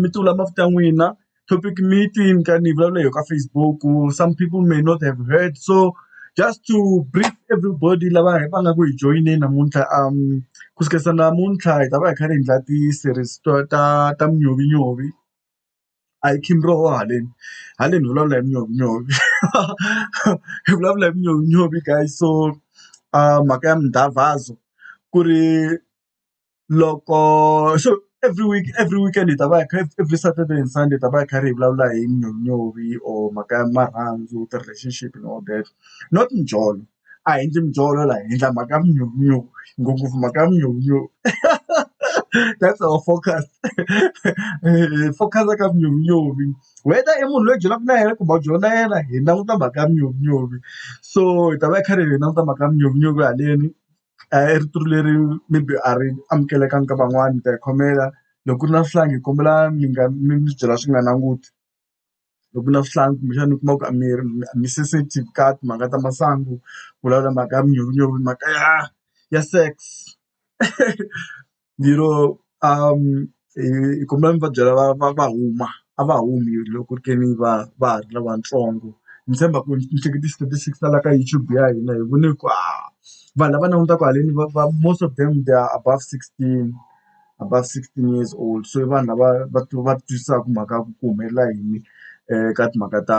mi ti vula mavito ya n'wina topic meeting ka ni vulavula hi yo ka Facebook some people may not have heard so just to brief everybody lava va nga ku hi joyineni namuntlha ku suka namuntlha hi ta va hi kha hi endla ti-series to ta ta munyovonyovi a hi khimi roho haleni haleni hi vulavula hi munyovonyovi hi vulavula hi munyovonyovi guys so mhaka ya mindhavhazo ku ri. loko xo every week every weekend hi ta va hi kha every Saturday and Sunday hi ta va hi karhi hi vulavula hi nyonyori or mhaka ya marhandzu ti-relationship and all that not mijolo a hi endli mijolo laha hi endla mhaka ya minyonyori ngopfungopfu mhaka ya minyonyori that's our focus hi focus-a ka minyonyori whether i munhu loyi hi byelaka na yena kumbe a wu byeli na yena hi languta mhaka ya minyonyori so hi ta va hi karhi hi languta mhaka ya minyonyori haleni a hi ri tlulu leri maybe a ri amukelekanga ka van'wani mi ta hi khomela loko ku ri na swihlangi hi kombela mi nga mi mi byela swi nga nanguti loko ku na swihlangi kumbexana u kuma ku a mi ri a mi sensitive ka timhaka ta masangu vulavula mhaka ya manyuvunyuvu mhaka ya ya sex. Ni lo a hi kombela mi va byela va va va huma a va humi loko ku ri ke ni va va ha ri lavatsongo ni tshemba ku ni hleketa ti-statistics ta la ka YouTube ya hina hi vone ku a vanhu lava langutaka haleni va va most of them they are above sixteen above sixteen years old so i vanhu lava va va twisisaka mhaka ya ku ku humelela yini ka timhaka ta.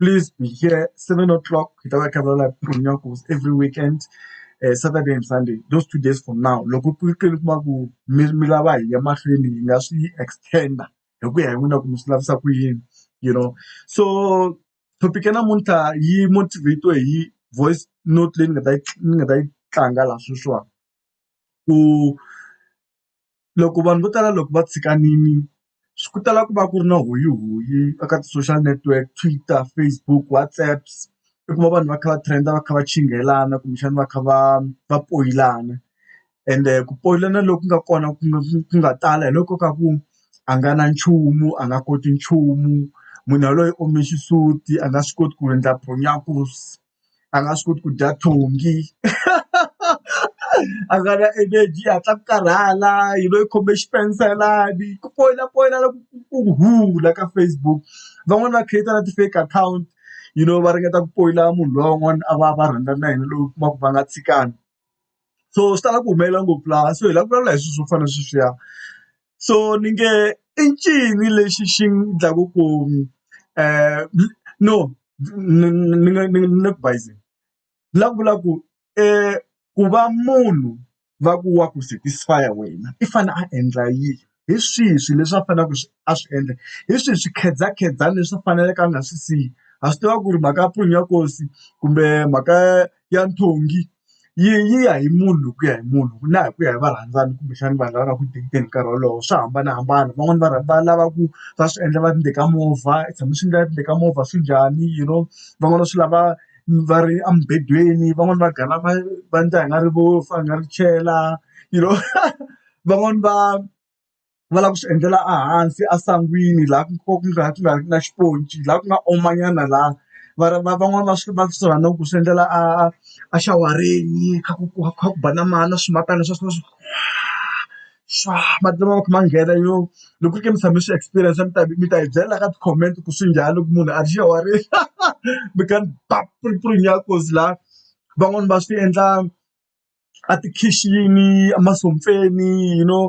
Please be here, 7 o'clock, Kitaba Kabbalah Punyakos, every weekend, uh, Saturday and Sunday, those two days from now. Loko ku ri kuma ku mi mi lava hi ya mahlweni hi nga swi extenda hi ku ya hi n'wina ku mi swi lavisa ku yini you know so topic ya namuntlha yi motivate hi voice note leyi ni nga ta yi ni nga ta yi tlanga laha sweswiwani ku loko vanhu vo tala loko va tshikanile swi ku tala ku va ku ri na huyihuyi eka ti-social network Twitter, Facebook, WhatsApp i kuma vanhu va kha va trend-a va kha va chinghelana kumbexana va kha va va poyilana ende ku poyilana loku nga kona ku nga ku nga tala hi loko ka ku a nga na nchumu a nga koti nchumu munhu yaloye u ome xisuti a nga swi koti ku endla . a nga swi koti ku dya thongi a nga na energy yi hatla ku karhala yi va yi khome xipenstelani ku poyila poyila loko ku huhula ka Facebook van'wani va create na ti-fake account you know va ringeta ku poyila munhu loyi van'wana a va va rhandza na yena loyi u kuma ku va nga tshikani so swi tala ku humelela ngopfu laha so hi lava ku vulavula hi swilo swo fana na sweswiya. so ni nge i ncini lexi xi endlaku ku no ni ni nga ni nga ni le ku bayizeni ni la ku vula ku ku va munhu va ku wa ku satisfy wena i fane a endla yini hi swihi swilo leswi a faneleke a swi endla hi swihi swikhedzakhedzani leswi a faneleke a nga swi siya ha swi tiva ku ri mhaka ya proof ya nkosi kumbe mhaka ya nthongi. yi yi ya hi munhu hi ku ya hi munhu na hi ku ya hi varhandzani kumbexana vanhu lava nga ku hi nkarhi wolowo swa hambanahambana van'wani va rhandza va lava ku va swi endla va ri ndzeni ka movha i tshama swi endleka ndzeni ka movha swi njhani you know van'wana swi lava va ri emubedweni van'wani va gana va va ndla i nga ri vo i nga ri chela you know van'wani va. va lava ku swi endlela ehansi esangwini laha ku nga ku nga ku nga ri na xiponci laha ku nga oma nyana laha va va van'wani va swi va swi rhandziku ku swi endlela a a xawareni kha ku ku kha ku ba na mati na swimatana swa swa swaa mati lama va kha ma nghena yo loko ku ri ka mi tshame mi swi experience mi ta mi ta hi byela la ka ti-comment ku swi njhani loko munhu a ri xawareni mi kha mi ba puripurinyakosi laha van'wani va swi endla. a tikhixini emashompeni you know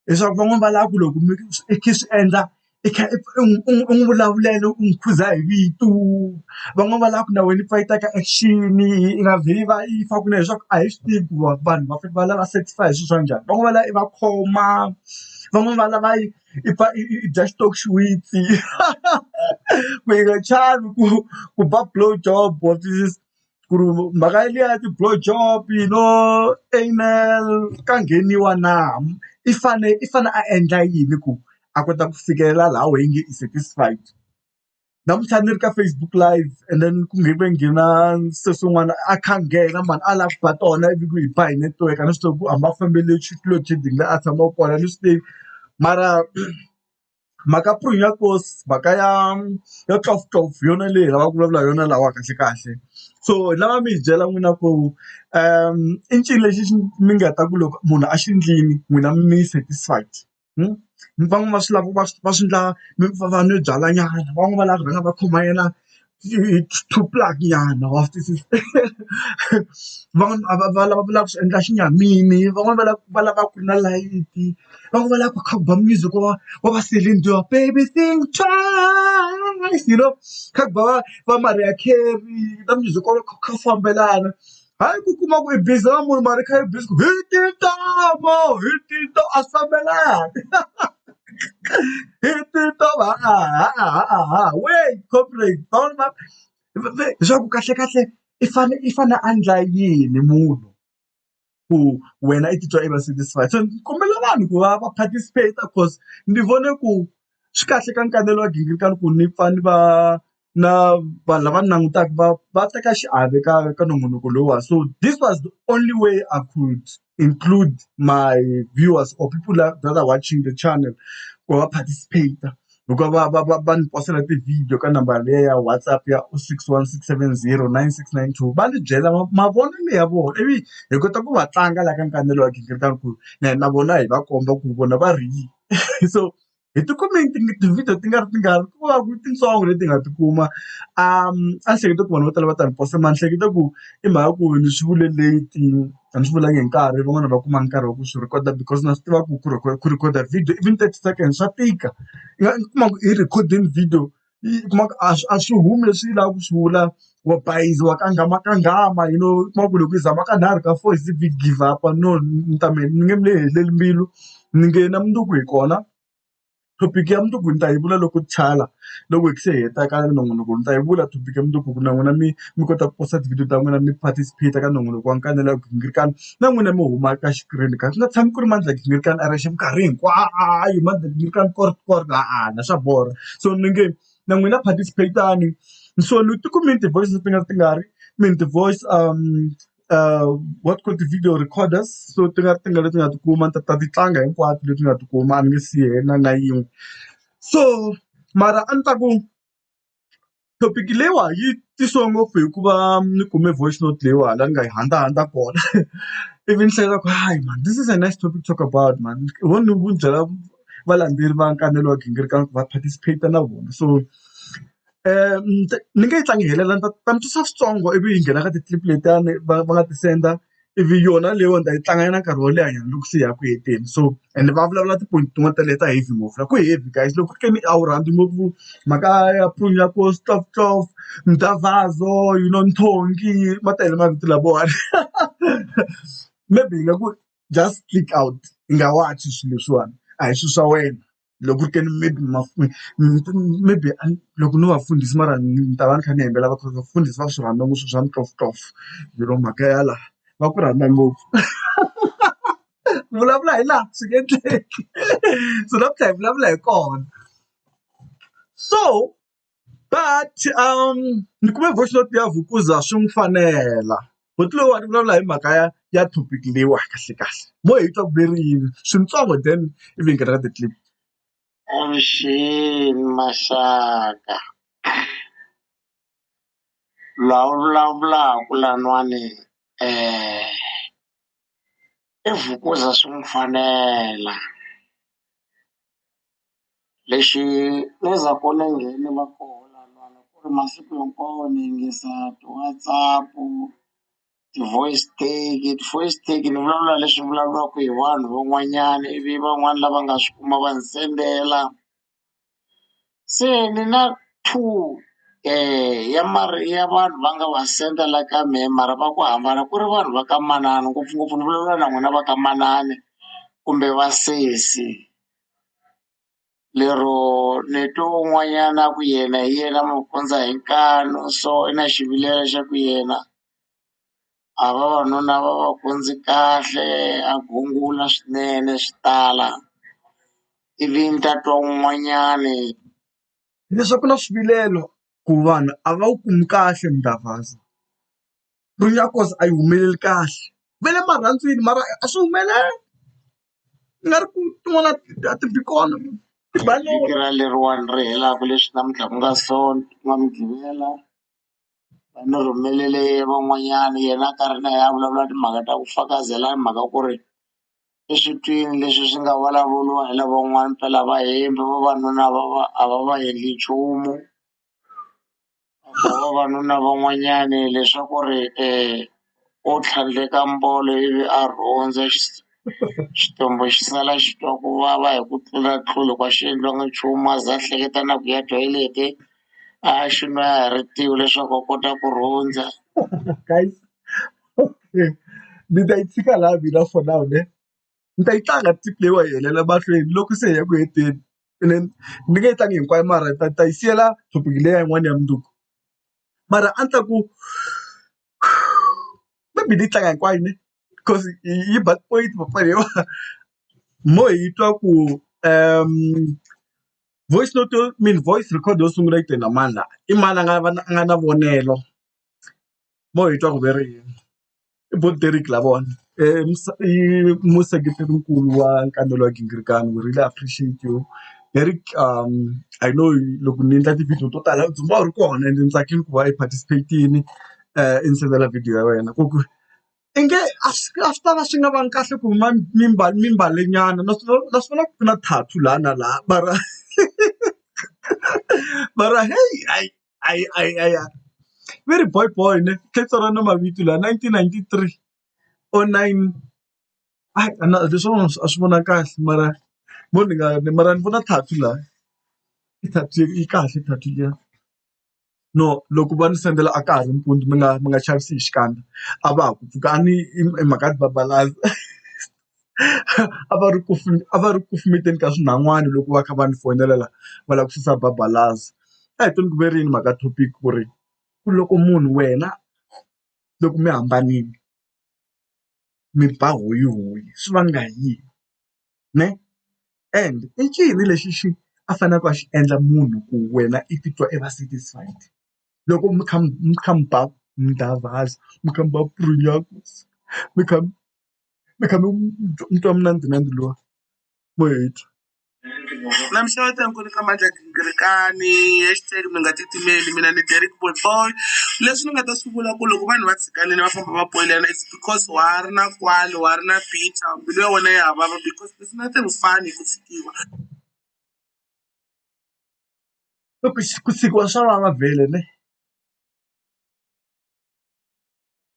leswaku van'wani va lava ku loko mi i kha i swi endla i kha u n'wi vulavulela u n'wi khuza hi vito van'wani va lava ku na wena i pfa i teka action i nga vheli va i fa kunene leswaku a hi swi tivi ku va vanhu va fanele va lava satisfy hi swilo swa njhani van'wana va lava i va khoma van'wani va lava i i pfa i dya xitofu xiwitsi ku yi nga chavi ku ku ba blow job wa twisisa. ku ri mhaka liya ya ti-blow job you know anal ka ngheniwa na i fane i fane a endla yini ku a kota ku fikelela laha why nge i satisfied namuntlha ni ri ka Facebook live and then ku ve ku nghena se swin'wana a kha a nghena mhani a lava ku ba tona ivi ku yi ba hi network a ni swi tivi ku a ma fambele xitulwini xi dingile a tshama kona a ni swi tivi mara. mhaka ku ri ya course mhaka ya ya twelve twelve hi yona leyi hi lavaka ku vulavula hi yona laha kahlekahle so hi lava mi hi byela n'wina ku i ncini lexi xi mi nga ta ku loko munhu a xi endlile n'wina mi satisfied van'wana va swi lava va swi va swi endla va va nwe byalwa nyana van'wana va lava ku rhanga va khoma yena nyana wa swi twisisa van'wani a va va lava vulaka swi endla xinyamini van'wani va lava va lava ku ri na layiti van'wani va lava ku kha ku ba music wa wa va Celine Dion baby think twice you know kha ku ba va va Mariah Carey na music wa kha wu fambelana. hayi ku kuma ku i busy na munhu mara i kha i busy ku hi tintoma hi tinto a swi fambelani hi tintoma ha-a-ha-a-ha-a wait comrade all my leswaku kahlekahle i fane i fane a endla yini munhu ku wena i titwa i va satisfied so ni kombela vanhu ku va va participate cause ni vone ku swi kahle ka nkanelo wa gingirikani ku ni pfa ni va. na vanhu lava ni langutaka va va teka xiave ka ka nongonoko lowa so this was the only way I could include my viewers or people that that are watching the channel ku va participate-a hikuva va va va va ni posela ti-video ka nambara liya ya WhatsApp ya o six one six seven zero nine six nine two va ni byela mavonelo ya vona ivi hi kota ku va tlanga la ka wa gingirikani ku na hina na vona hi va komba ku vona va ri yini so. hi ti kume ti-video ti nga ri tingani ku nga ku titsongo leti hi nga ti kuma a ni hleketa ku vanhu vo tala va ta ni post-a mara ni hleketa ku i mhaka ku ni swi vule late a ni swi vulanga hi nkarhi van'wani a va kumanga nkarhi wa ku swi record-a because na swi tiva ku ku ku record-a video even thirty seconds swa tika i kuma ku i record-ini video yi u kuma ku a swi a swi humi leswi yi lavaka ku swi vula. Wa bayiza, wa kanghamakangama you know. U kuma ku loko yi zama ka nharhu ka four, yi ze yi give up-a. No ni ta mi ni nge mi heleli mbilu, ni nge na mundzuku hi kona. Topic ya mundzuku ni ta yi vula loko loko hi se hi heta ka nongonoko ni ta yi vula topic ya mundzuku ku na n'wina mi mi kota ku post-a tivhidiyo ta n'wina mi participate-a ka nongonoko wa Nkanelo wa Ghingirikani. na n'wina mi huma ka xikirini ka swi nga tshami ku ri mandla gingirikani a ri yexe minkarhi hinkwayo mandla gingirikani kort kort a-a swa borha so ni nge na n'wina participate-ani so ni ti kumini ti-voice ti nga ti nga ri i mean ti-voice what called ti-video recorders so ti nga ti nga leti nga tikuma ni ta ta ti tlanga hinkwato leti nga tikuma a ni nge siyi na na yin'we so mara a ni ta ku. Topic leyiwa yi tisiwe ngopfu hikuva ni kume voice note leyiwani laha ni nga yi hundza hundza kona ivi ni hleketa ku hayi man this is a nice topic to talk about man ho ni ku byela valendzeleri va kanele wa gingiriko ku va participate na vona so ni nge yi tlangi yi helela ni ta ni ta ni twisa switsongo ivi yi nghena ka ti-clip letiyani va va nga ti senda. ivi yona leyiwa ni ta yi tlanga na nkarhi wo leha nyana loko se hi ya ku heteni so ende va vulavula tiponi tin'wani ta leta heavy ngopfu la ku heavy guys loko ku ri ka mi a wu rhandzi ngopfu mhaka ya stoftof mdavhazo you know nthongi ma tele mavito lavawani maybe hi nga ku just click out i nga watch swilo leswiwani a hi swilo swa wena. loko ku ri ke ni maybe maybe a ni loko no va fundhisi mara ni ta va ni kha ni hembela va ku vafundhisi va swi rhandza ngopfu swa mitoftofo yi ri mhaka ya laha va ku rhandza ngopfu ku vulavula hi laha swi nge endleki so namuntlha hi vulavula hi kona so. but ni kume voice note ya Vukuza swi n'wi fanela buti loyiwani u vulavula hi mhaka ya ya topic leyiwa kahle kahle mo hi twa ku ve ri yini swintsongo then ivi hi nghena ka ti-clip. Avuxeni maxaka la u vulavulaka laniwani i Vukuza swi n'wi fanela Lexi ku ni nghene va kona vanhu ku ri masiku hinkwawo ni yingisa ti-WhatsApp ti-voice take ti-voice take ni vulavula leswi vulavuriwaka hi vanhu van'wanyana ivi van'wani lava nga swi kuma va ni sendela se ni na two ya ya vanhu va nga va senda la ka mehe mara va ku hambana ku ri vanhu va ka manana ngopfungopfu ni vulavula na n'wina va ka manana kumbe vasesi lero ni twe un'wanyana a ku yena hi yena magondzo hi nkani so i na xivilelo xa ku yena a vavanuna va va kondzi kahle a gungula swinene swi tala ivi ni ta twa un'wanyani leswaku na swivilelo ku vanhu a va wu kumi kahle mdavhazo. Mbilu ya Nkosi a yi humeleli kahle va le marhandzwini mara a swi humeleli ku nga ri ku tin'wana a ti bi kona vhiki ra leriwani ri helaka leswi namuntlha ku nga sonto ku nga mugqivela va ni rhumelele van'wanyana yena a karhi na yena a vulavula timhaka ta ku fakazela hi mhaka ku ri i switwini leswi swi nga vulavuriwa hi lavan'wana phela vahembi vavanuna va va a va va endli nchumu. vavanuna van'wanyani leswaku ri u tlhandleka mbolo ivi a rhondza xitumbu xi sala xi twa ku vava hi ku tlula tlula ka xi endliwanga nchumu a za a hleketa na ku ya toilet-e a ya xi nwa ya ha ri tiyi leswaku a kota ku rhondza ni ta yi tshika laha mina for now ne. ni ta yi tlanga trip leyiwa yi helela mahlweni loko se hi ya ku heteni ene ni nge yi tlangi hinkwayo mara ni ta ni ta yi siyela topic leya yin'wana ya mundzuku mara a ni ta ku maybe ni yi tlanga hinkwayo ne coz yi ba tipoyinti papa leyiwani mo hi twa ku voice note yo mean voice record yo sungula yi te na mani la i mani a nga a nga na vonelo. vo hi twa ku ve ri yini i Bob Derrick lavawani i museketeri nkulu wa nkambelo wa gingirikani we really appreciate you Derrick I know loko ni endla ti-video to tala u dzumbama u ri kona ende ni tsakile ku va i participate-ini i ni sendela video ya wena ku ku i nge a swi a swi ta va swi nga vangi kahle ku huma mimbale nyana na swi na swi vona ku ri na tattoo laha na laha mara mara heyi hayi. va ri boy boy ne tlhe ni tsala na mavito lawa nineteen ninety three or nine a leswiwani a swi vona kahle mara mo ni nga ni mara ni vona tattoo la i tattoo yi kahle tattoo liya no loko va ni sendela a ka ha ri mpundzu mi nga mi nga chavisi hi xikandza a va ha ku pfuka a ni i mhaka ya ku va . a va ri ku a va ri ku kumekeni ka swinhawani loko va kha va ni fonela la va lava ku susa babalaza a hi tweni ku ve ri yini mhaka topic ku ri ku loko munhu wena loko mi hambanile mi ba hoyi hoyi swi vanga hi yini ne and i ncini lexi xi a faneleke a xi endla munhu ku wena i titwa i va satisfied loko mi kha mi mi kha mi ba mi kha mi ba mi kha mi. mi kha mi mi twa mina ni mina ni lwa mo hi twa. Na mi xeweta inkwenu ka Mandla Ghingirikani hashtag mi nga titimeli mina ni Derek boy boy leswi ni nga ta swi vula ku loko vanhu va tshikanile va famba va poyilana it's because wa ha ri na kwalo wa ha ri na bicha mbilu ya wena ya ha vava because there's nothing fun hi ku tshikiwa ku tshikiwa swa vava vhele ne.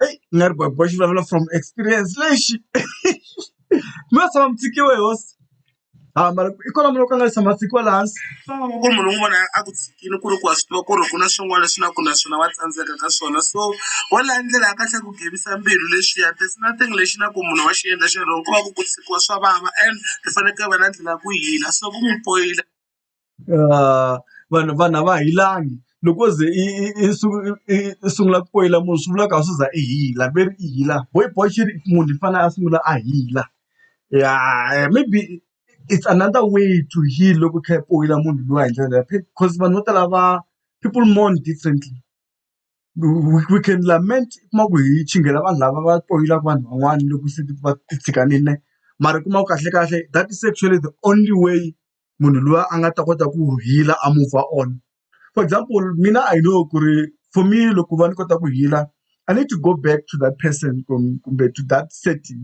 eyi ni nga ri bavhava xi vulavula from experience lexi mi nga tshama mi tshikiwe hi hosi ha mara i kona munhu wo ka a nga tshama a tshikiwa laha hansi ku munhu un'wana na un'wana a ku tshikile ku ri ku wa swi tiva ku ri ku na swin'wana leswi na ku na swona wa tsandzeka ka swona so wo la ndlela ya kahle ku gevisa mbilu leswiya there's nothing lexi na ku munhu wa xi endla xi wrong ko va ku ku tshikiwa swa vava and hi fanekele hi va na ndlela ya ku hila so ku n'wi poyila. vanhu vanhu a va hilangi loko se i i i sungula ku poyila munhu swi vulaka a swi za i hila ve ri i hila bo i boxa i ri munhu i fanele a sungula a hila ya maybe it's another way to heal loko i kha i poyila munhu luya hi ndlela yaleyo coz vanhu vo tala va people mourn differently. we can lament u kuma ku hi chingela vanhu lava va poyilaka vanhu van'wana loko se va ti tshikanile mara u kuma ku kahlekahle that is actually the only way munhu loyi a nga ta kota ku heal a move on for example mina I know ku ri for me loko va ni kota ku heal I need to go back to that person kumbe to that setting.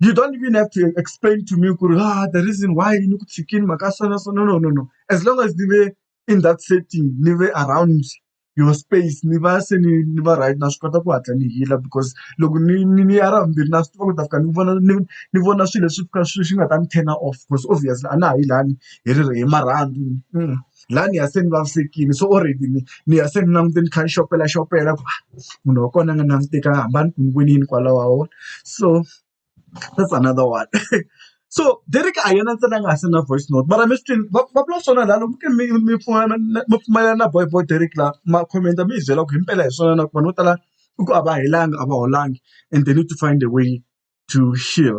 you don't even have to explain to me kuri ah the reason why ni ku tshikini mhaka so na so no no no no as long as ni ve in that setting ni ve around your space ni va se ni ni va right na swi kota ku hatla ni hila because loko ni ni ni ya ra vumbirhi na swi tiva ku ta fika ni vona ni ni vona swilo leswi fika swi swi nga ta ni turn off because obviously a na ha yi lani hi ri hi marhandzu. laha ni ya se ni vavisekile so already ni ni ya se ni langutile ni kha ni xopelaxopela ku munhu wa kona a nga languteka hambana ku ni vonile kwalaho wa vona so that's another one so Derek a hi yena ntsena a nga ha send na voice note mara mi swi twini va va vula swona laha loko mi mi mi pfumelana mi pfumelana na boy boy Derek laha ma comment mi hi byela ku hi mpela hi swona na ku vanhu vo tala i ku a va helanga a va holangi and they need to find a way to heal.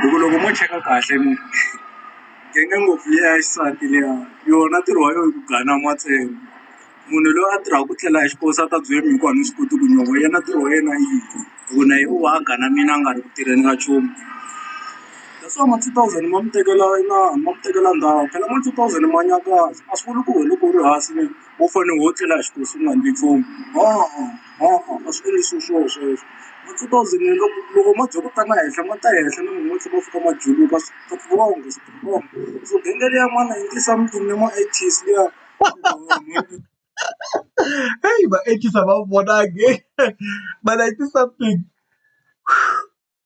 hi ku loko mo cheka kahle mi tenge ngopfu liya ya xisati liya yona ntirho wa yona i ku ganama ntsena munhu loyi a tirhaka ku tlela hi xiposo a ta byela mina ku a ni swi koti ku nyova yena ntirho wa yena i yini hi ku na ye u va a ganamile a nga ri ku tirheni ka nchumu that's why ma two thousand ma mi tekela inana ma mi tekela ndhawu phela ma two thousand ma nyakaza a swi vuli ku wena loko u ri hansi wo fanele wo tlela hi xiposo u nga endli nchumu ha-a. Hawa a swi endlisi swona sweswo. Ma two thousand loko loko ma bya ku ta ma henhla ma ta henhla na loko ma tlhela ma fika ma juluka strong strong. So bank liya ma nineteen something na ma eighties liya heyi ma eighties a ma vonangi ma nineteen something .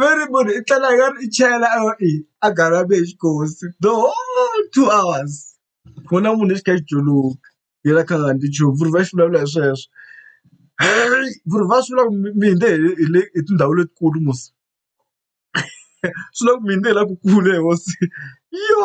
va ri munhu i tlela yo i chela a va i a garage hi xikosi the whole two hours ku na munhu xi kha xi juluka yena kha nga endli nchumu vuri va xi vulavula hi sweswo ku ri va swi vula ku mi hundze hi le hi tindhawu letikulu musi swi vula ku mi hundze hi la ku kule hosi yo.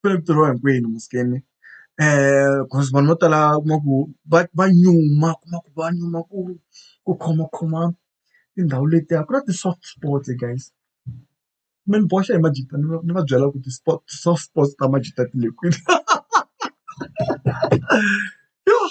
ku ri ntirho wa hinkwenu musikeni coz vanhu vo tala u kuma ku va va nyuma u kuma ku va nyuma ku ku khomakhoma tindhawu letiya ku na ti-soft spots guys mi ni boxa hi majita ni va ni va byela ku ti-sport ti-soft spots ta majita ti le kwini yoh.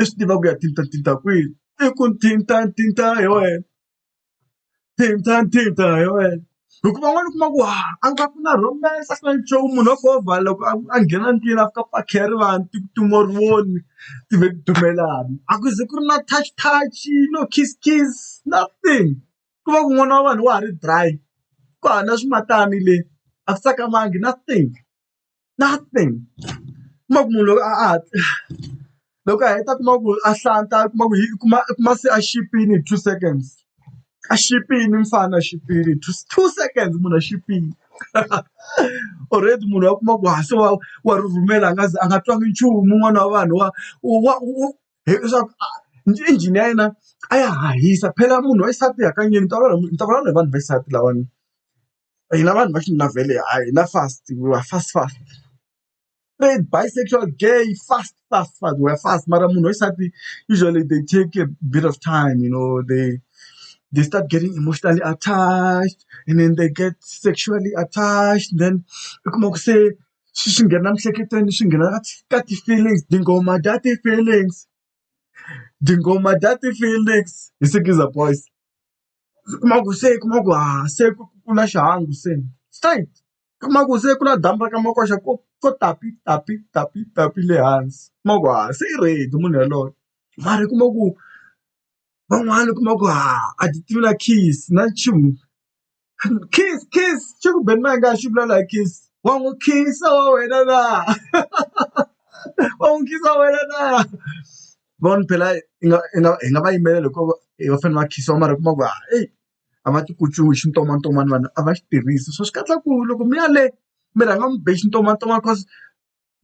i swi tiva ku ya thinta thinta kwihi i ku thinta thinta hi wena thinta thinta hi wena hikuva van'wana u kuma ku ha a nga ku na romance a ku na nchumu munhu wa govha loko a nghena ndlwini a fika pakhe ya rivanti ti ku tuma u ri voni ti ve ti dumelana a ku ze ku ri na touch touch no kiss kiss nothing ku va ku n'wana wa vanhu wa ha ri dry ku hava na swimatani le a swi tsakamangi nothing. nothing kuma ku munhu loko a a loko a heta kuma ku a hlanta a kuma ku hi kuma i kuma se a xipini hi two seconds a xipini mfana a xipini two two seconds munhu a xipini already munhu wa kuma ku ha se wa wa ri rhumela a nga ze a nga twangi nchumu un'wana wa vanhu wa wa leswaku injhini ya yena a ya hahisa phela munhu wa xisati hakanyingi ni ta vulavula ni ta vulavula hi vanhu va xisati lawani hina vanhu va xinuna vhele ha hina fast we are fast fast straight bisexual gay fast fast fast we are fast mara munhu wa xisati usually they take a bit of time you know they they start getting emotionally attached and then they get sexually attached then u kuma ku se swi swi nghena emiehleketweni swi nghena ka ti ka ti-feelings tinghoma ta ti-feelings tinghoma ta ti-feelings hi sikiza boys. u kuma ku se u kuma ku ha se ku kula xihangu se straight u kuma ku se ku na damu ra ka makoxa ko ko tapi tapi tapi tapi le hansi u kuma ku ha se i ready munhu yaloye mara u kuma ku van'wana u kuma ku ha a ti tivi na kiss na nchumu kiss kiss xa ku beni ma nga ha xi vula la hi kiss wa n'wi khensa wa wena na wa n'wi khensa wena na vanhu phela hi nga hi nga hi nga va yimela loko va fanele va khiyiwa mara u kuma ku a eyi a va ti kutsumi hi xintsongwatsongwana vanhu a va xi tirhisi so swi katsa ku loko mi ya le mi rhanga mi be xitsongwatsongwana cause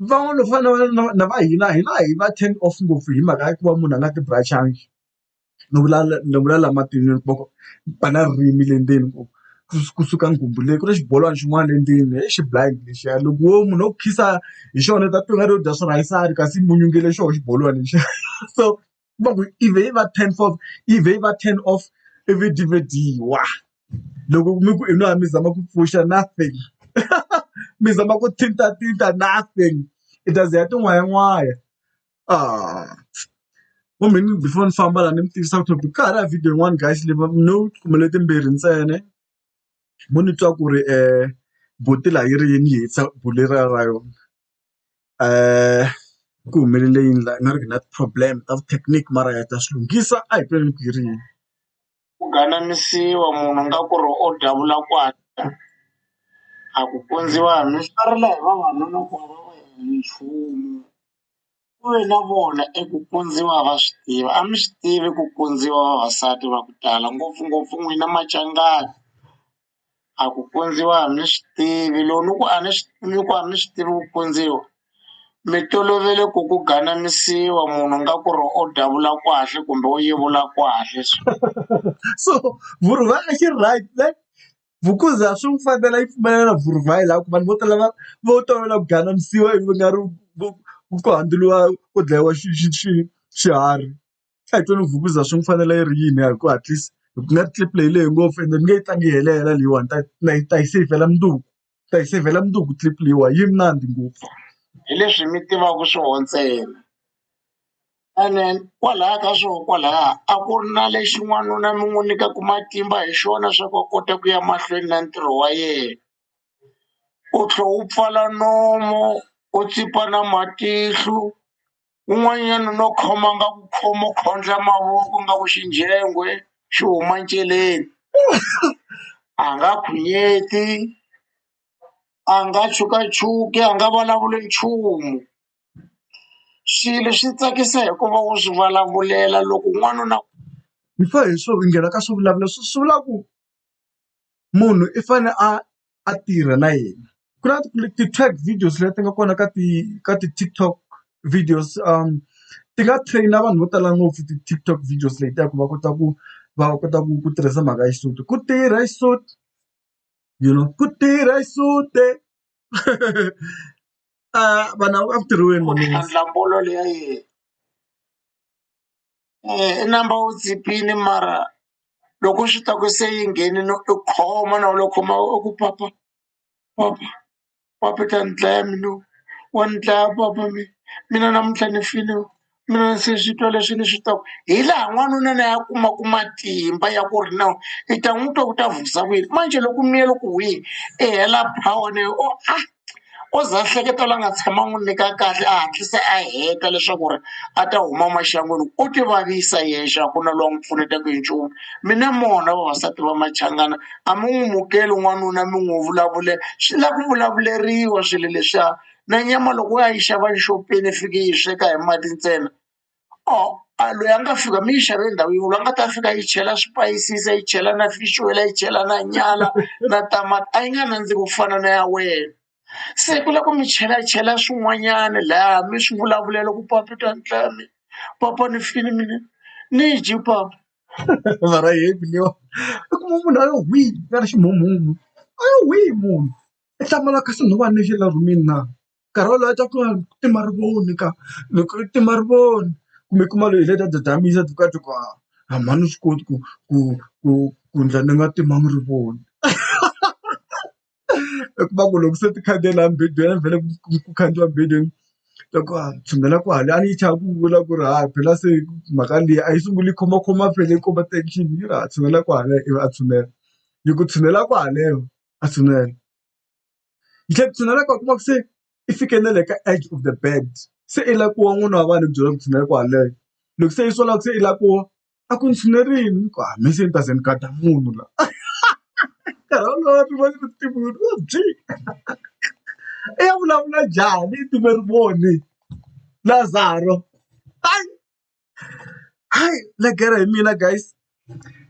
van'wana va fana na na va hina hina hi va ten off ngopfu hi mhaka ya ku va munhu a nga ti bracangi ni vula ni vula laha matin'wini va ku va na ririmi le ndzeni ku kusuka nghumbu leyi ku na xibolwana xin'wana le ndzeni he xi blind lexiya loko wo munhu wo khiza hi xona u ta twa ingari u dya swirhayisani kasi i munyunge le xona xibolwana lexiya so va ku i vhe i va ten for i vhe i va ten off i vhidiwhidiwa loko mi ku i nwa mi zama ku pfuxa nothing mi zama ku thintathinta nothing i ta ze ya tin'wayin'wani. ah wa mhani before ni famba la ni mi tivisa ku ka ha ri na video yin'wana guys leyi no kumbe letimbirhi ntsena mo ni twa ku ri buti la yi ri yini yi hisa buti leriya ra yona ku humelele yini la i nga ri na ti-problem ta vu-technique mara ha ta swi lunghisa a hi ku ri yini. ku ganamisiwa munhu nga ku ri o davula kwata a ku pundziwa mi swarela hi vavanuna ku va va nchumu ku ve na vona eku pundziwa va swi tiva a mi swi tivi ku pundziwa vavasati va ku tala ngopfungopfu n'wina Machangani. a ku kundziwa a ni swi tivi loko ni ku a ni swi ni ku a ni swi tivi ku kundziwa mi tolovele ku ku galamisiwa munhu nga ku ri u davula kahle kumbe u yevula kahle so so vhurhuva a xi ri right ne vhukuza swi n'wi fanela yi pfumelela na vhurhuva hi laha ku vanhu vo tala va vo tolovela ku galamisiwa ivi va nga ri ku ku ku dlayiwa xi xi xi xiharhi. a hi twa ni vukuza swi ni fanela yi ri yini hi ku hatlisa hi ku nga tlula leyi lehe ngopfu ende ni nge yi tlangi yi helela leyiwani ta na yi ta yi seyivhela mundzuku ta yi seyivhela mundzuku clip leyiwa yi mnandzi ngopfu hi leswi mi tivaka swoho ntsena ene kwalaya ka swoho kwalaya a ku ri na lexi n'wanuna mi n'wi nyikaku matimba hi xona swa ku a kota ku ya mahlweni na ntirho wa yena u tlhe u pfala nomu u tsipa na matihlo. un'wanyana no khoma nga ku khoma u khondla mavoko nga ku xinjhengwe xi huma nceleni a nga khwinyeti a nga chukachuki a nga vulavuli nchumu swilo swi tsakisa hikuva u swi vulavulela loko n'wana na hi fa hi swo nghena ka swivulavula swi swi vula ku munhu i fane a. a tirha na yena ku na ti-track videos leti nga kona ka ti ka ti-TikTok videos ti nga train-a vanhu vo tala ngopfu ti-TikTok videos letiya ku va kota ku va kota ku ku tirhisa mhaka ya xisuti ku tirha xisuti you know ku tirha xisuti a vanhu a ku tirhiweni malume. i number wo chipile mara loko swi ta ku se yi nghenile u khoma na wena u khoma u ku papa papa papa u ta ni dlaya mina loyi wa ni dlaya papa mina mina namuntlha ni file mina se swi twa leswi ni swi twaka hi laha n'wanuna na ya kumaka matimba ya ku ri na i ta n'wi twa ku ta vulavula manjhe loko miyele ku huhile i hela power na yona a. o za a hleketa la nga tshama n'wi nyika kahle a hatlisa a heta leswaku ri a ta huma maxangwini u ti vavisa yexe a ku na loyi a n'wi pfunetaka hi nchumu mi na mona vavasati va machangani a mi n'wi mukeli n'wanuna mi n'wi vulavule swi lava ku vulavuleriwa swilo leswiya na nyama loko u ya yi xava exopeni i fiki i yi sweka hi mati ntsena. or a loyi a nga fika mi yi xavele ndhawu yin'we loyi a nga ta fika a yi chela swipayisisi a yi chela na fish oil a yi chela na nyala na tamati a yi nga nandziki ku fana na ya wena se ku lava ku mi chelachela swin'wanyana lahaya mi swi vulavulela ku papa i ta ni dlaya mina papa ni file mina ni yi dye papa mara hi leyiwa i kuma munhu a yo hwii a nga ri ximumu a yo hwii munhu i hlamala kasi nhova ni xi la rhumini na. nkarhi wolowo a twa ku ku ti marivoni ka loko ti marivoni kumbe kuma loyi hi leta dadanisa ti kati ku a a mhani swi koti ku ku ku ku ndla ni nga ti marivoni i kuma ku loko se ti khandziya laha mubedweni vhele ku khandziya mubedweni ta ku a tshunela kwale a yi chava ku vula ku ri ha phela se mhaka leyi a yi sunguli yi khomakhoma phela yi komba tension yi ri ha tshunela kwale ivi a tshunela yi ku tshunela kwale a tshunela. yi tlhela yi tshinela ku kuma ku se i fike na le ka edge of the bed se i la ku wa n'wana wa vanhu ku byela ku tshinela ku haleno loko se i sola ku se i la ku wa a ku ni tshinerile ku hayi me se ni ta ze ni gada munhu la nkarhi wolowo ri va ri ti munhu wo byi i ya vulavula njhani i tive ri voni lazaro hayi. hayi legere hi mina guys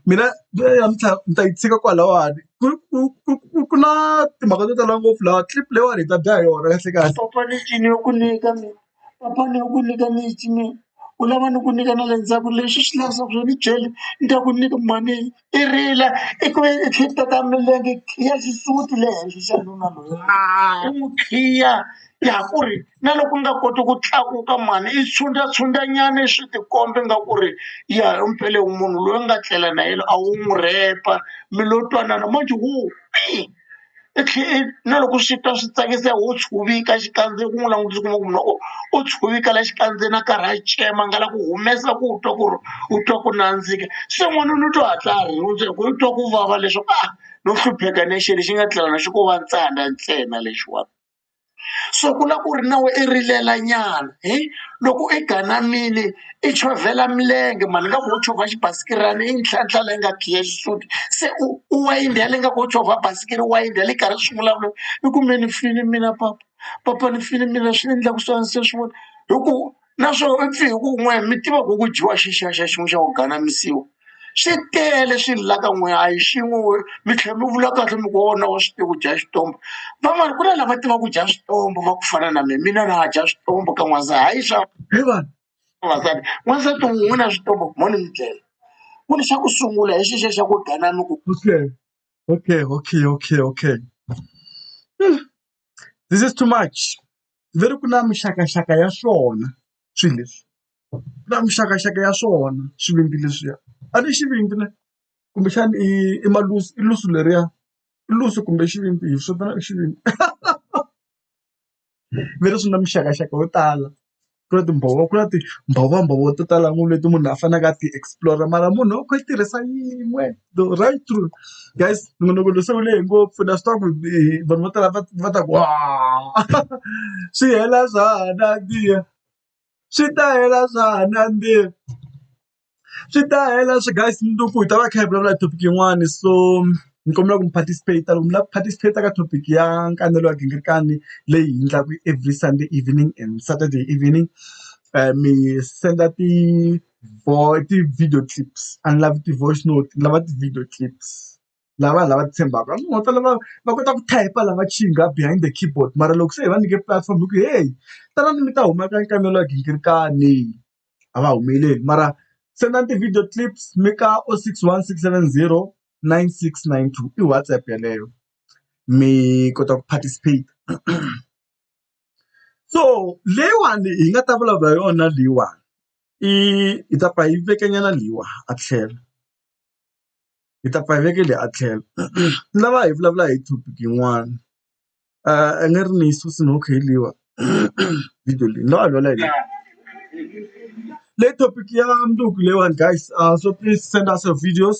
mina namuntlha ni ta yi tshika kwalawani ku ku ku ku ku na timhaka to tala ngopfu laha clip leyiwani hi ta dya hi yona kahle kahle papa lexi ni yo ku nyika mi papa ni yo ku nyika lexi mi u lava ni ku nyika na le ndzhaku lexi xi lavisaka swo ni byele ni ta ku nyika mhani i rila i ku ve i khipha ka milenge i khiya xisuti le henhla xa nuna loyi i n'wi khiya i ya ku ri na loko u nga koti ku tlakuka mhani i tshwundla tshwundla nyana i swi tikomba nga ku ri ya hi mpela hi munhu loyi u nga tlela na yena a wu n'wi rhepa mi lo twanana manjhe wo pii. i tlhela i na loko swi twa swi tsakisa ho chuveka xikandziya ku n'wi langutisa kuma ku loko u chuveka la xikandziya na karhi a tsema nga la ku humesa ku twa ku ri u twa ku nandzika se n'wana ni twa hatla a rhundza hi ku u twa ku vava leswaku a no hlupheka ni xilo lexi nga tlhela na xi ko va ntsandza ntsena lexiwani. so ku la ku ri na we i rilela nyana hi loko i ganamile i chovhela milenge mhani nga ku wo chovha xibasikirana i ntlhantlha leyi nga khiya xisuti se u u wayindha yale nga ku wo chovha basikiri wayindha yale karhi swi vulavula i ku me ni fini mina papa papa ni fini mina swi endlaku swani se swi vona hi ku naswona u pfe hi ku n'wehe mi tiva ku ku dyiwa xixa xin'we xa ku ganamisiwa swi tele swi la ka n'wehe a hi xin'we we mi tlhela mi vula kahle mi ku wona wa swi tiva ku dya xitombo van'wani ku na lava tivaka ku dya switombo va ku fana na mina mina na ha dya switombo ka n'waza hayi swa hi vanhu vavasati n'wansati wun'we na switombo mhoni mi tlela ku ni xa ku sungula hi xixa xa ku ganami ku okay okay okay okay okay this is too much ve ri ku na mixakaxaka ya swona swilo leswi ku na mixakaxaka ya swona swivindzi leswiya a ni xivindzi na kumbexana i i malusi i lusu leriya i lusu kumbe xivindzi hi swi vitanaka xivindzi ve ri swi na mixakaxaka yo tala ku na timbhovo ku na timbhovombhovo to tala ngopfu leti munhu a faneleke a ti explore mara munhu u kha a yi tirhisa yin'we. the right truth guys minonokolo se wu lehe ngopfu na swi tiva ku vanhu vo tala va va ta ku wa swi hela swa ha nandziha swi ta hela swa ha nandziha swi ta hela swi guys ni ku hi ta va kha hi vulavula hi topic yin'wani so ni kombela ku mi participate loko mi lava ku participate ka topic ya nkanelo wa gingirikani leyi hi endlaka every sunday evening and saturday evening mi senda ti vo ti-video clips a ni lavi ti-voice note ni lava ti-video clips lava vanhu lava titshembaka a ni nga ta lava va kota ku type la va behind the keyboard mara loko se hi va nyike platform hi ku heyi tanani mi ta huma ka nkanelo wa gingirikani a va humeleli mara sendani ti-video clips mi ka o six one six seven zero nine six nine two i WhatsApp yeleyo mi kota ku participate so leyiwani hi nga ta vulavula yona leyiwani. i hi ta pfa hi veke nyana leyiwa a tlhelo hi ta pfa hi veke leyi a tlhelo ni lava hi vulavula hi topic yin'wana a ni ri ni yi susa no okay leyiwa video leyi ni lava hi vulavula hi yona le topic ya mundzuku leyiwani guys so please send us your videos.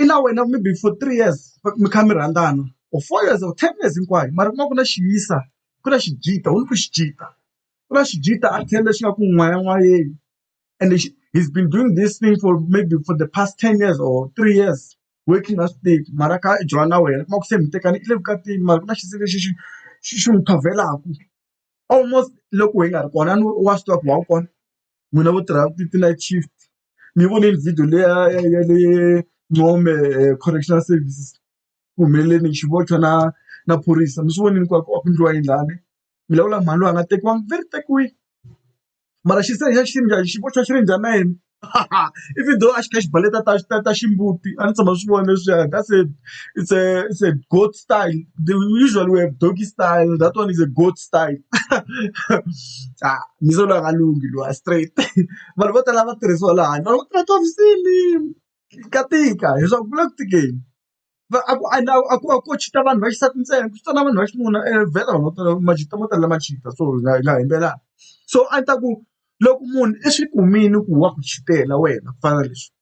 i na wena maybe for three years mi kha mi rhandzana or four years or ten years hinkwayo mara ku va ku na xi yisa ku na xi jita wu ni ku xi jita ku na xi jita a tlhelo lexi nga ku n'wayin'wayeni and lexi he's been doing this thing for maybe for the past ten years or three years working a swi tivi mara a kha a jola na wena u kuma ku se mi tekana i le vukatini mara ku na xisi lexi xi xi xi n'wi qhavelaku almost loko hi nga ri kona a ni wa swi tiva ku wa wu kona. n'wina vo tirha ti ti-night shift ni yi vonile video liya ya ya le Ncome correctional services ku humelele ni xivoxo na na phorisa mi swi vonile hinkwako a ku endliwa yini lani mi lawula mhani loyi a nga tekiwanga ve ri tekiwile mara xi se xa xi njhani xi boxa xi ri njhani na yena even though a xi kha xi baleta ta ta ta ximbuti a ni tshama swi vona leswiya ka se it's a it's a goat style they usually we have doggy style that one is a goat. style ah mi se loyi a nga lunghi loyi a straight vanhu vo tala va tirhisiwa laha handle va tirha tihofisini ka tika leswaku ku le ku tikeni va a ku a a ku a ko cheat-a vanhu va xisati ntsena ku na vanhu va xinuna vhela vanhu vo tala ma cheat-a mo tala ma cheat-a so hi nga hi nga yimbelelana so a ni ta ku loko munhu i swi kumile ku wa ku cheat-ela wena ku fana na leswi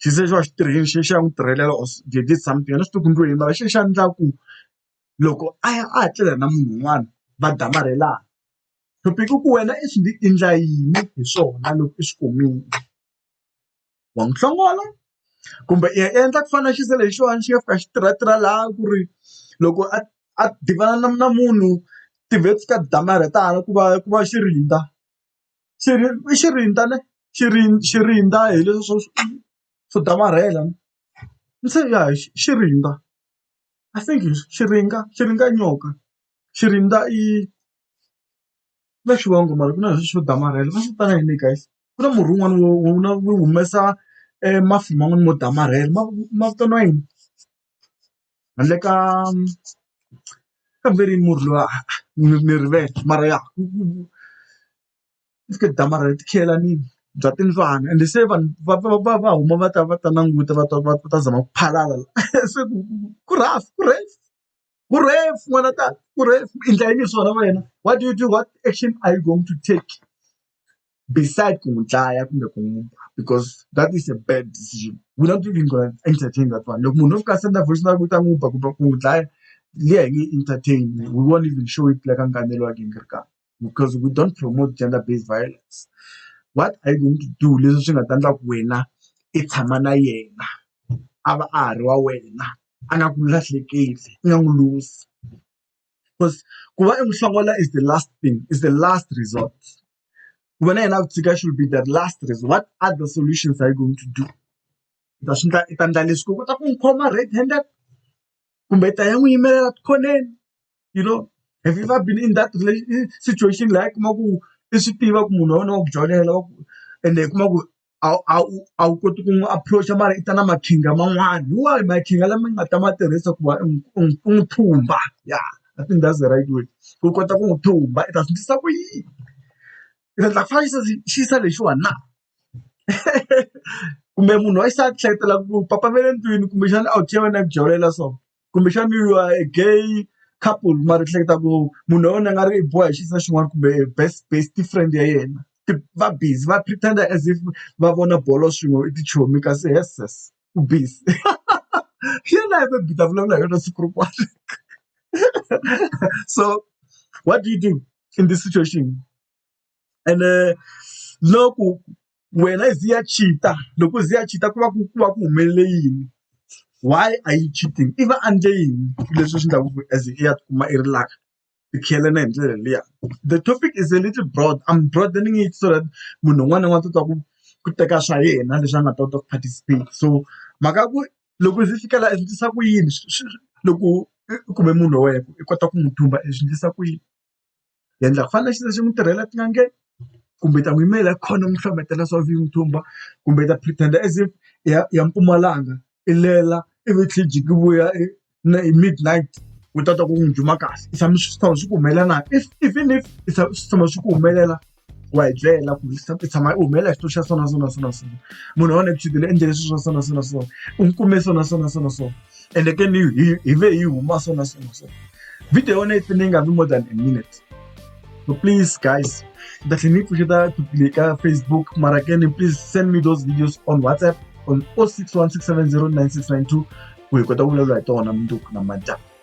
xi ze xi va xi tirhile xi ya n'wi tirhelela or did something a ni swi tivi ku ni ngo yini mara xi lexi a ni endla ku. loko a ya a ha tlela na munhu un'wana va damarhelana thopiki i ku wena i swi i endla yini hi swona loko i swi kumile wa n'wi hlongola kumbe i ya i endla ku fana na xisa lexiwani xi nga fika xi tirha tirha laha ku ri loko a a tivana na na munhu ti-webs ka ti damarhetana ku va ku va xi rindza xi ri i xi rindza ne xi ri xi rindza hi leswi swo swo damarhela se ya xi rindza. I think is xiringa xiringa i nyoka xirindza i na xivongo mara ku na lexi xo damarhela va swi vitana yini guys ku na murhi wun'wana wo wu na wu humesa e mafi man'wani mo damarhela ma ma vitaniwa yini handle ka ka murhi luwa ni ni rivele mara ya . Ivi damarha ri tikhiyelanile bya timbyana ende se vanhu va va va va huma va ta va ta languta va ta va va ta zama ku phalala la se ku ku rhasi ku rhasi ku rhefu n'wana wa tata ku rhefu i ndla yini swona wena what do you do what action are you going to take beside ku n'wi dlaya kumbe ku n'wi ba because that is a bad decision we're not even gonna entertain that one loko munhu o fika a senda voice note u ta n'wi ba kumbe ku n'wi dlaya liya hi nge entertain we won't even show it la ka nkanelo wa gingirikani. because we don't promote gender based violence what are you going to do leswi swi nga ta endla ku wena i tshama na yena a va a ha ri wa wena a nga ku lahlekeli i nga n'wi luzi because ku va i n'wi hlongola is the last thing is the last resort ku va na yena a ku tshika should be the last resort what other solutions are you going to do i ta swi endla i ta endla leswi ku kota ku n'wi khoma red handed kumbe i ta ya n'wi yimelela tikhoneni you know have you ever been in that relationship situation la u kuma ku i swi tiva ku munhu wa wena wa ku jolela wa ku ende u kuma ku a wu a wu a wu koti ku n'wi approach-a mara i ta na makhinga man'wana hi wahi makhinga lama nga ta ma tirhisa ku va u n'wi u n'wi u n'wi thumba ya I think that's the right word u kota ku n'wi thumba i ta swi endlisa ku yini i ta endla ku fana xi xi yisa lexiwani na kumbe munhu wa xisati hlayetela ku papa va le ndlwini kumbexana a wu tlhela va na ku jolela so. kumbexani you are a gay couple mara u hleketa ku munhu wa wena a nga ri i boha hi xisati xin'wana kumbe best best friend ya yena va busy va pretender as if va vona bolo swin'we i tichomi kasi heeses ku busy hi yona hi maybe hi ta vulavula hi yona siku rin'wana so what do you do in this situation. and uh, loko wena i ziya chita loko i ziya chita ku va ku ku va ku humelele yini why are you cheating i va andle yini leswi swi endlaku ku as i ya tikuma i ri laka i khiyelene hi ndlela liya the topic is a little broad i'm broadening it so that munhu un'wana na un'wana ta twa ku ku teka swa yena leswi a nga ta kota ku participate so mhaka ku loko ndzi fika laha i swi tisa ku yini loko kumbe munhu wa wena i kota ku n'wi thumba i swi endlisa ku yini. hi endla ku fana na xilo xi n'wi tirhela etin'angeni kumbe hi ta n'wi yimela hi khona n'wi hlohletela swa vu yi n'wi thumba kumbe hi ta pretend-a as if i ya i ya Mpumalanga i lela ivi hi tlhela hi jika hi vuya hi na hi midnight u ta twa ku n'wi duma kahle i tshama swi tshama swi ku humelela na if even if i tshama swi tshama swi ku humelela. wa hi byela ku se i tshama i humelela xitulu xa sona sona sona sona munhu wa neputile endle leswi swa sona sona sona u n'wi kume sona sona sona sona ende ke ni hi hi ve hi huma sona sona sona video yona yi fane yi nga vi more than a minute so please guys ni ta tlhela ni pfuxeta tupile ka facebook mara ke ni please send me those videos on whatsapp on 0616709692 ku hi kota ku vulavula hi tona mundzuku na madyambu